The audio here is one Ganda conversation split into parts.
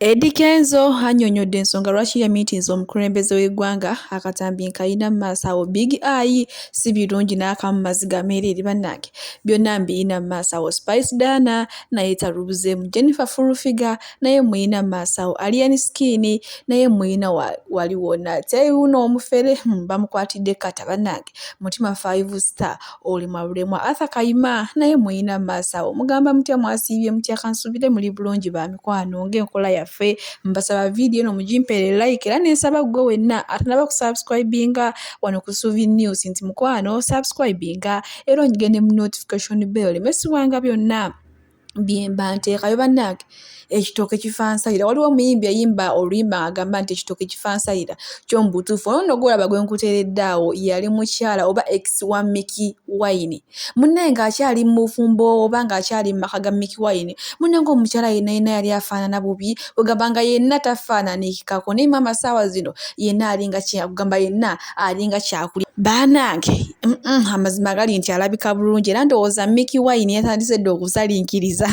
Eddy Kenzo annyonnyodde ensonga lwaki yamiitiiza omukulembeze w'eggwanga akatambi nkalina mu maaso awo Big Eye si birungi n'akamu maziga meereere bannange byonna mbirina mu maaso awo Spice Diana naye talubuzeemu Jennifer Full Figure naye mmulina mu maaso awo Alien Skin naye mmulina wali wonna ate wuuno omufere hmm, bamukwatidde kata bannange mutima five star olemwa bulemwa arthur kayima naye muyina maaso awo mugamba mutya mwasiibye mutya kansubire muli bulungi ba mikwano ngaenkola yaffe mbasaba vidiyo no mugimpere like era nensaba gwe wenna atanaba kusubscribinga wano ku suvi news nti mukwano subscribinga era onyige ne mu notification bell mesibwanga byonna byemba nteekayo bannange ekitooke kifansayira waliwo omuyimbi eyimba oluyimba agamba nti ekitooke kifansayira kyo mu butuufu ono no gwolaba gwe nkuteeredde awo yali mukyala oba ex wa miki wine munne ng'akyali mu bufumbo oba ng'akyali mu maka ga miki wine munne ng'omukyala yenna yenna yali afaanana bubi ogamba nga yenna tafaananikikako naye maama saawa zino yenna alinga kiyakugamba yenna alinga kyakuli banange mm -mm, amazima gali nti alabika bulungi era ndowooza miki wine yatandise dde okusalinkiriza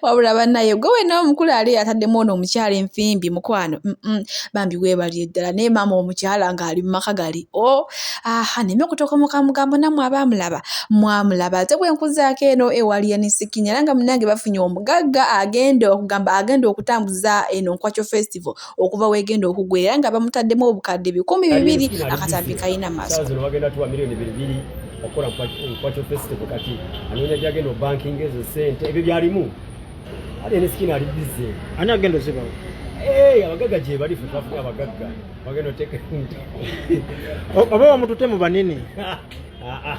wabula banaye gwe wena omukulu ali yataddemu ono omukyala enfimbi mukwano mm -mm, bambi webalire ddala naye maama omukyala ng'ali mu maka gali o oh, aha neme okutokomoka mugambo namwe abamulaba mwamulaba ate bwenkuzaako eno ewali enisikinya era nga munange bafunye omugagga agenda okugamba agenda okutambuza eno nkwakyo festival okuva wegenda okugwera era nga bamutaddemu obukadde bikumi bibiri akatambi kalina maaso okukola mukwakyo festival kati anoonya gyagenda obankinga ezo sente ebyo byalimu ali enesikini ali bize ani agenda ozibawo eh, abagagga gyebali fe twafuka abagagga bagenda oteeka oba wamutute mu banene ah, ah.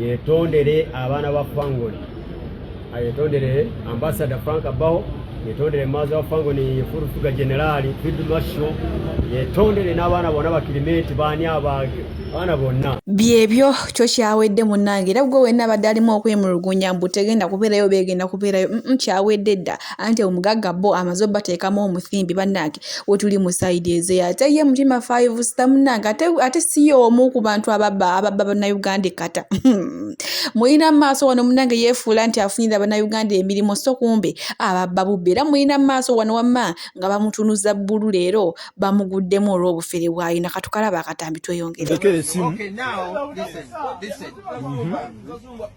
yetondere abaana ba fangoni ayetondere ambasada frank abaho yetondere maazi wa fangoni furufuga generali field marshal yetondere n'abaana bona bakirimenti baani abaage abaana bonna byebyo kyo kyawedde munnange era gwe wenna abadde alimu okwemulugunya mbu tegenda kubeerayo beegenda kubeerayo mm kyawedde dda anti omugagga bo amaze obateekamu omusimbi bannange wetuli mu side eze ate ye mutima five star munange ate, ate si y'omu ku bantu ababa ababa bannayuganda ekkata mulina maaso wano munange yeefuula nti afunira bannayuganda emirimu so kumbe ababba bubbi era mulina maaso wano wamma nga bamutunuza bbulu leero bamuguddemu olw'obufere bwalina katukalaba akatambi tweyongere okay,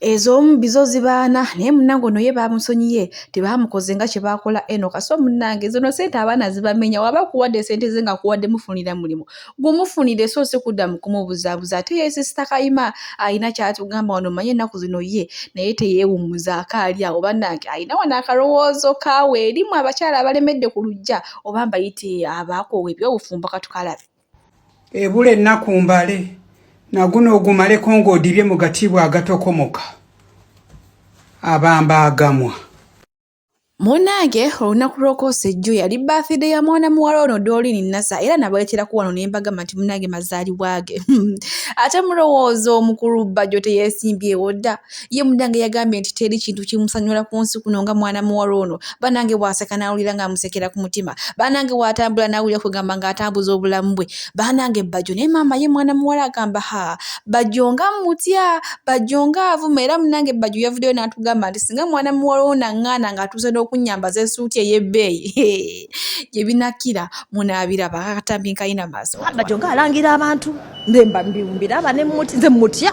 ez'omu bizo zibaana naye munange ono ye bamusonyiye tebamukoze nga kye baakola eno kaso munange zino sente abaana zibamenya waba kuwadde sente ze nga kuwadde mufunira mulimu gumufunire so si kudda mu kumubuzaabuza ate ye sisita kayima alina kyatugamba wano manye ennaku zino ye naye teyeewummuza akaali awo bannange alina wano akalowoozo kaawe erimu abakyala abalemedde ku lujja oba mbayite abaakoowa ebyobufumbo katukalabe ebula ennaku mbale naguno ogumaleko ng'odibye mu gatiibwa agatokomoka abamba agamwa Munnange olunaku lw'okwosa ejjo yali bathide ya mwana muwala ono Doreen Nasa era nabaleeterako wano ne mbagamba nti munnange mazaalibwa ge ate mulowooza omukulu bajjo teyeesimbyewo dda ye munnange yagambye nti teri kintu kimusanyula ku nsi kuno nga mwana muwala ono banange bw'aseka n'awulira ng'amusekera ku mutima banange bw'atambula n'awulira kugamba ng'atambuza obulamu bwe baanange bajjo naye maama ye mwana muwala agamba ha bajjo nga mutya bajjo nga avuma era munange bajjo yavuddeyo n'atugamba nti singa mwana muwala wo naŋŋaana ng'atuuse n'okunyambaza esuuti ey'ebbeeyi gye binakira munaabira bakakatambi nkalina maaso bajjo nga alangira abantu mbemba mbimbiraba ne muti nze mutya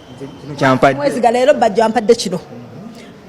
mwezigala leero bajja ampadde kino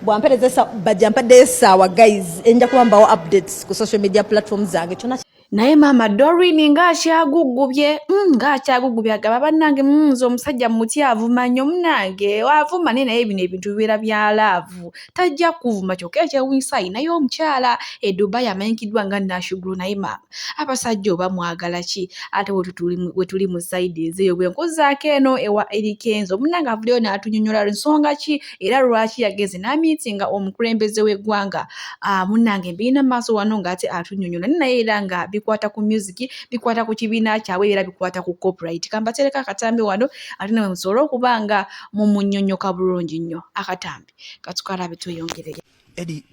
bwampereza bajja mpadde esaawa guys enja kuba mbawo updates ku social media platform zange kyona naye maama dorin ng'akyagugubye mm, ng'akyagugubye agaba bannange mm, nze omusajja mutyavu manyo munange wavuma naye naye bino ebintu bibeera bya laavu tajja kuvuma kyokka ekyewunyisa alinayo omukyala e dubai amanyikiddwa nga nashugulu naye maama abasajja oba mwagala ki ate wetuli mu saidi ezeeyo bwenkuzaako eno ewa erikenzo munange avuleo n'atunyonyola nsonga ki era lwaki yagenze n'amiiti nga omukulembeze w'eggwanga ah, munange mbirina maaso wano ng'ate atunyonyola naye era nga bikwata ku musiki bikwata ku kibiina kyabwe era bikwata ku copyright kambatereko akatambi wano ate nawe musobole okuba nga mumunyonyoka bulungi nnyo akatambi katukala abituyongerere edi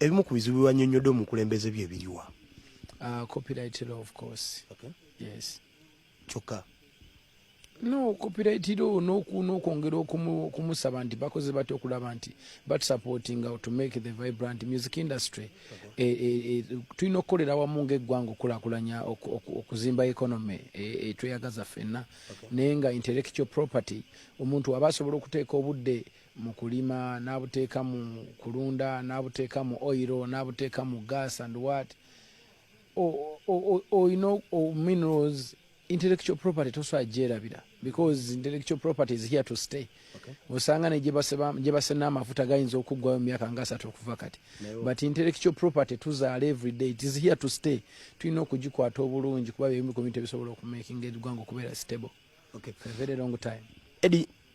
ebimu ku bizibu byanyonyodde omukulembeze bye biriwa uh, copyright law of course okay. yes kyokka no copyrightiro nokwongera okumusaba nti bakoze batya okulaba nti batusupportinga to make the vibrant music industry e, e, e, tulina okukolera wamu ngaeggwanga okulakulanya okuzimba economy etweyagaza fenna naye nga intellectual property omuntu aba asobola okuteeka obudde mu kulima n'abuteeka mu kulunda n'abuteeka mu oiro n'abuteeka mu gas and wat olina minerals intellectual property tosobola gyerabira because intellectual property is here to stay osanga ne gyebasena amafuta gayinza okuggwayo mumyaka nga asatu okuva kati but intellectual property tuzaala everyday it is here to stay tulina okugikwata obulungi kuba byebimu ku bintu ebisobola okumakinga eggwanga okubeera stable okay. for a very long time Eddie,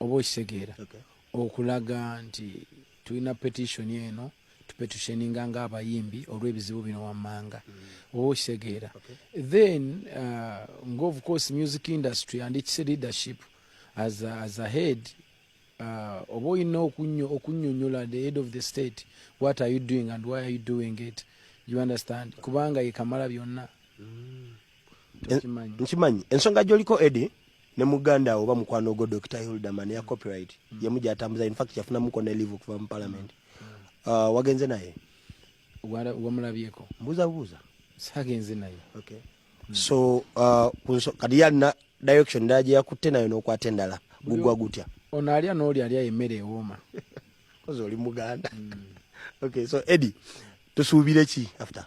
oba okitegeera okulaga nti tulina petitioni eno tupetusheninga nga abayimbi olw'ebizibu bino wammanga mm. oba okitegeera then uh, nga of course music industry and its leadership as a, as a head uh, oba olina okunyonyola the head of the state what are you doing and why are you doing it you understand kubanga yekamala byonna mm. nkimanyi ensonga gyoliko edi ne muganda oba mukwano ogwo dr hilderman ya copyright mm. yemu gyatambuza infact yafunamuko ne live okuva mu palamenti mm. uh, wagenze naye wamulabyeko mbuuza buuza sagenze naye okay. mm. so uh, kunso, kati yalina direction ndala gye yakutte nayo n'okwata endala gugwa gutya ono alya n'oli alya emmere ewooma ozi oli muganda mm. okay so edi tusuubire ki after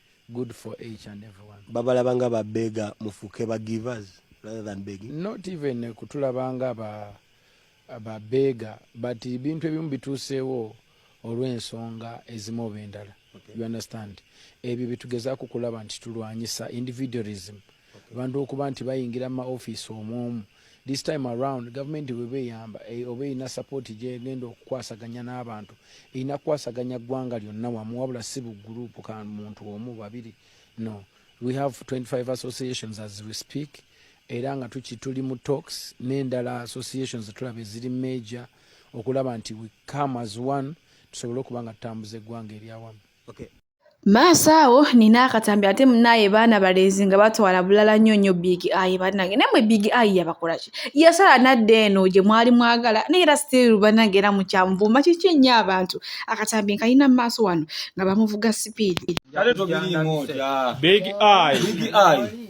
good for each and everyone babalaba nga ba bega mufuke ba givers rather than begging not even kutulaba nga ba ba bega but ibintu ebimu bitusewo olw'ensonga ezimu oba endala okay. you understand ebyo bitugezaako kulaba nti tulwanyisa individualism abantu okuba nti bayingira mu maofiisi omwomu this time around gavumenti weba eyamba eh, oba erina sapooti gyegenda okukwasaganya n'abantu erina kukwasaganya ggwanga lyonna wamu wabula si buguruupu ka muntu omu babiri no we have 25 associations as we speak era nga tuki tuli mu tox n'endala associations tulaba eziri major okulaba nti we come as one tusobole okuba nga tutambuza eggwanga eryawamu okay. maaso awo nina akatambi ate munaye baana balenzi nga batwala bulala nnyo nnyo big eye banange naye mwe big eye yabakolaki yasala nadda eno gye mwali mwagala naye era still banange era mukyanvuma kiki ennyo abantu akatambi nkalina mu maaso wano nga bamuvuga sipiidi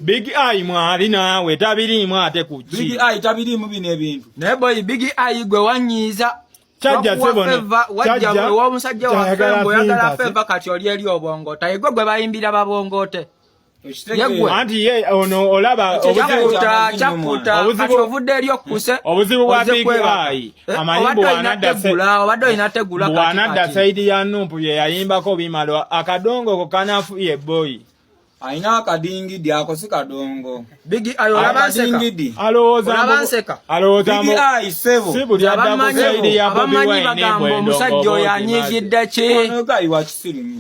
big eye mwali naawe tabiriimu ate kuki big eye tabiriimu bino ebintu naye boyi big eye gwe wanyiiza kyajja sebona wajja gwe w'omusajja waffe mbu oyagala feva kati oli eri obwongoota yegwe gwe bayimbira babwongote anti ye ono olaba obuzibu ovudde eri okukuse obuzibu bwa big eye eh, amayimbo obadde olina tegula bwanadda saidi ya numpu bye yayimbako bimala akadongo ko kanafuye boyi alina akadingidi ako si kadongo bigi ayo olabadingidi alowoozanseka bigi ayi sebo abamanyi bagamba omusajja oyo anyigidde ki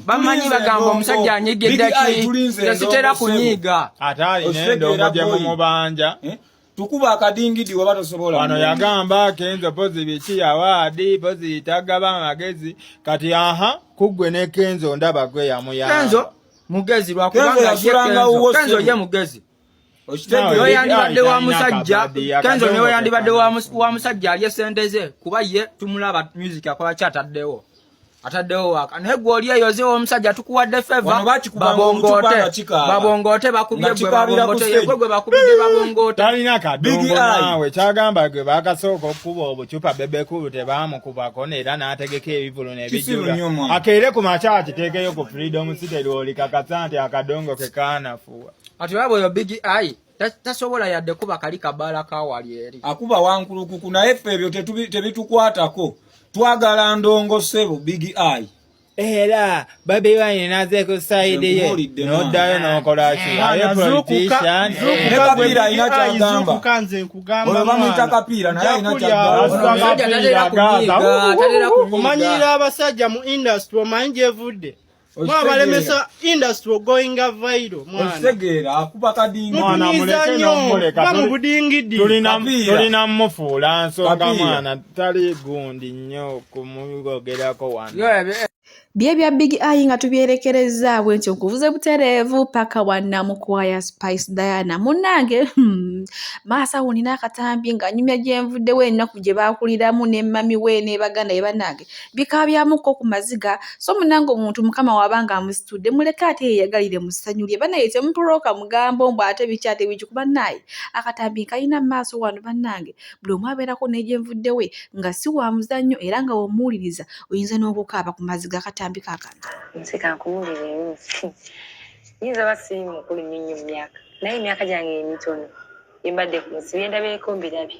bamanyi bagamba omusajja anyigidde ki tesitera kunyiiga ate alina endongo gye mumubanja eh? tukuba akadingidi waba tosobola wano yagamba kenzo pozi biki yawaadi pozi tagaba amagezi kati aha kuggwe ne kenzo ndaba gwe yamuya kenzo mugezi lwakubangakenzo ye mugezi oyo yandibadde wa musajja kenzo newe yandibadde wa musajja alye sente ze kuba ye tumulaba music akola kyataddewo ataddewo waaka naye gwe oli eyo ozewo omusajja tukuwadde feva babongoote babongoote bakubye gwe babongoote yegwe gwe bakubidde babongoote talina kadongo naawe kyagamba gwe bakasooka okukuba obucupa bebekulu tebaamukubako era n'ategeka ebivulu nebijula akeere ku makya akiteekeyo ku freedom city lwolikakasa nti akadongo ke kaanafuwa ati waba oyo big eye tasobola yadde kuba kali kabaala kawali eri akuba wankulukuku naye ffe ebyo tebitukwatako twagala ndongo sebo big eye era babi wine nazeeko side ye noddayo nokolakiakumanyiira abasajja mu industry omanyi gyevudde mwabalemesa industry ogoinga vairo mwanakitegeera akuba kadingimulekabamubudingidi tulina mufuula nsonga mwana tali gundi nnyo kumugogerako wana bye bya big eye nga tubyerekerezza bwe nti nkuvuze butereevu paka wannamukwaya spice diana munnange hmm, maasa wunina akatambi nga nyumya gyenvuddewo ennaku gye baakuliramu ne mami we ne baganda ye bannange bikaabyamuko ku maziga so munange omuntu mukama waba nga amusitudde muleke ate yeyagalire mu ssanyu lye banaye temupulooka mugambo mbu ate biki ate biki kuba naaye akatambi nkalina mu maaso wano bannange buli omu abeerako n'egyenvudde we nga si wa muzannyo era nga womuwuliriza oyinza n'okukaaba ku maziga akatambi kakano nze kankuwulire yinza oba siri mukulu nnyo nnyo mu myaka naye emyaka gyange emitono embadde ku nsi byendabyeeko mbirabye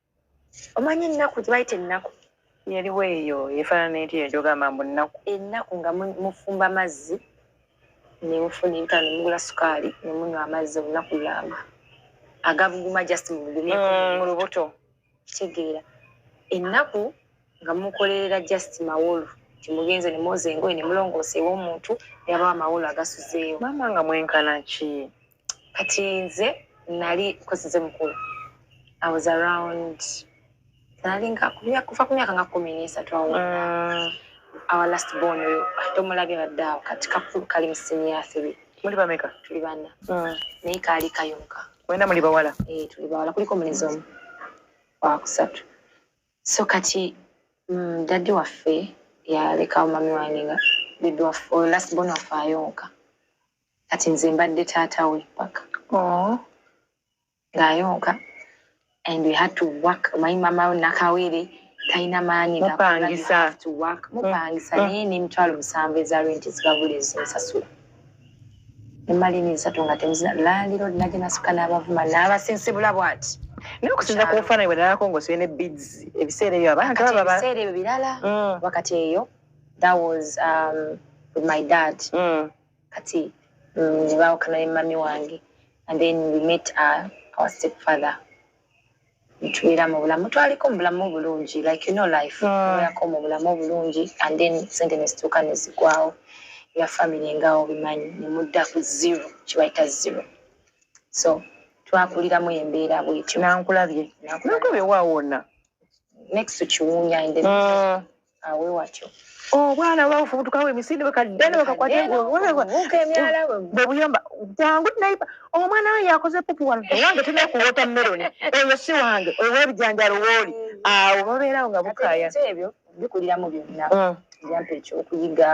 omanyi ennaku gyebayita ennaku yaliwo eyo efaanana eti ekyogamba mbu nnaku ennaku nga mufumba mazzi nemufuna entano mugula sukaali nemunywa amazzi olunaku lulamba agabuguma just mugumye mm, mu lubuto kitegeera ennaku nga mukolerera just mawolu timugenze nemwoza engoye nemulongoosa ewomuntu nebabawa amawolu agasuzeewo mama nga mwenkana ki kati nze nali kosize mukulu i was around nalinga kufa ku myaka nga kumi nesatu awo mm. our last born oyo tomulabye badde awo kati kakulu kali mu siniya three muli bameka tuli bana mm. naye kaali kayonka wena muli bawala eh, tuli bawala kuliko mulezi omu wakusatu so kati mm, daddy waffe yalekawo mami wange nga bidwaffe last born waffe ayonka kati nze mbadde taata we paka oh. ng'ayonka and we had to work omanyi mama nakawere talina maanyi mupangisa mupangisa mm. naye n'emitwalo musanvu eza renti zibabula ezinsasula nemali n'esatu nga temuzina laaliro nage nasuka n'abavuma n'abasensebula bwati naye okusinza ku bufaananyi bwenalako ngaosibye ne bids ebiseera ebyo abantu ebiseera ebyo birala mm. wakati eyo that was um, with my dad mm. kati nze baawukana ne mami wange and then we met our, our step father ntubeera mu bulamu twaliko mu bulamu obulungi like you know life tubeerako mu bulamu obulungi and then sente nezituuka nezigwawo ya family nga obimanyi nemudda ku zero kibayita zero so twakuliramu embeera bwetyo nankulabye nankulabye wawona next to kiwunya in the awe watyo obwana oh, babufubutukawo emisinde bakadde nebakakwata bwebuyamba jangu naiba omwana we yakoze pupu wano ewange tulina ku watermelon oyo si wange oyo webijanjalo wooli awo babeerawo nga bukaya ebyo bikuliramu byonna mm. byampa ekyokuyiga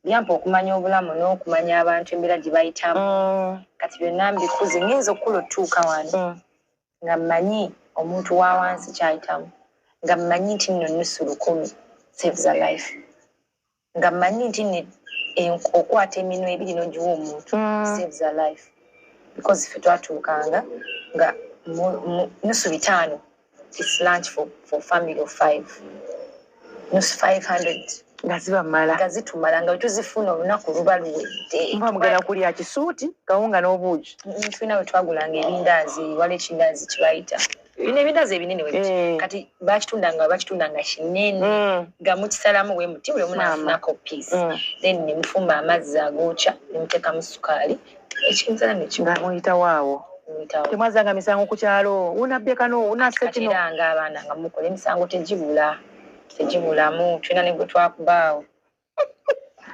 byampa okumanya obulamu n'okumanya abantu embeera gye bayitamu mm. kati byonna mbikuze ngenza okukula otutuuka wano mm. nga mmanyi omuntu wa wansi kyayitamu nga mmanyi nti nno nusu lukumi saves a life nga mmanyi nti ne okwata eminwa ebiri nogiwa omuntu mm. saves a life because fe twatuukanga nga nusu bitaano its lunch for, for family of five nusu 500 nga zibamala nga zitumala nga tuzifuna olunaku luba luwedde mba mugenda kulya kisuuti kawunga n'obuugi tulina we twagulanga ebindaazi wala ekindaazi kibayita bino ebindaazi ebinene webiti eh. kati bakitunda nga bakitunda nga kinene mm. nga mukisalamu we muti buli omu nafunako piisi mm. then nemufumba amazzi agookya nemuteekamu sukaali mm. ekinzani kino nga muyitawo awo muyitawo temwazzanga misango ku kyalo unabbekano unassa kino kateranga abaana nga mukola emisango tegibula tegibulamu tulina ne gwe twakubaawo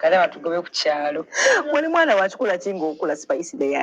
kale batugobe ku kyalo wali mwana wakikola ki ng'okula sipayisi beya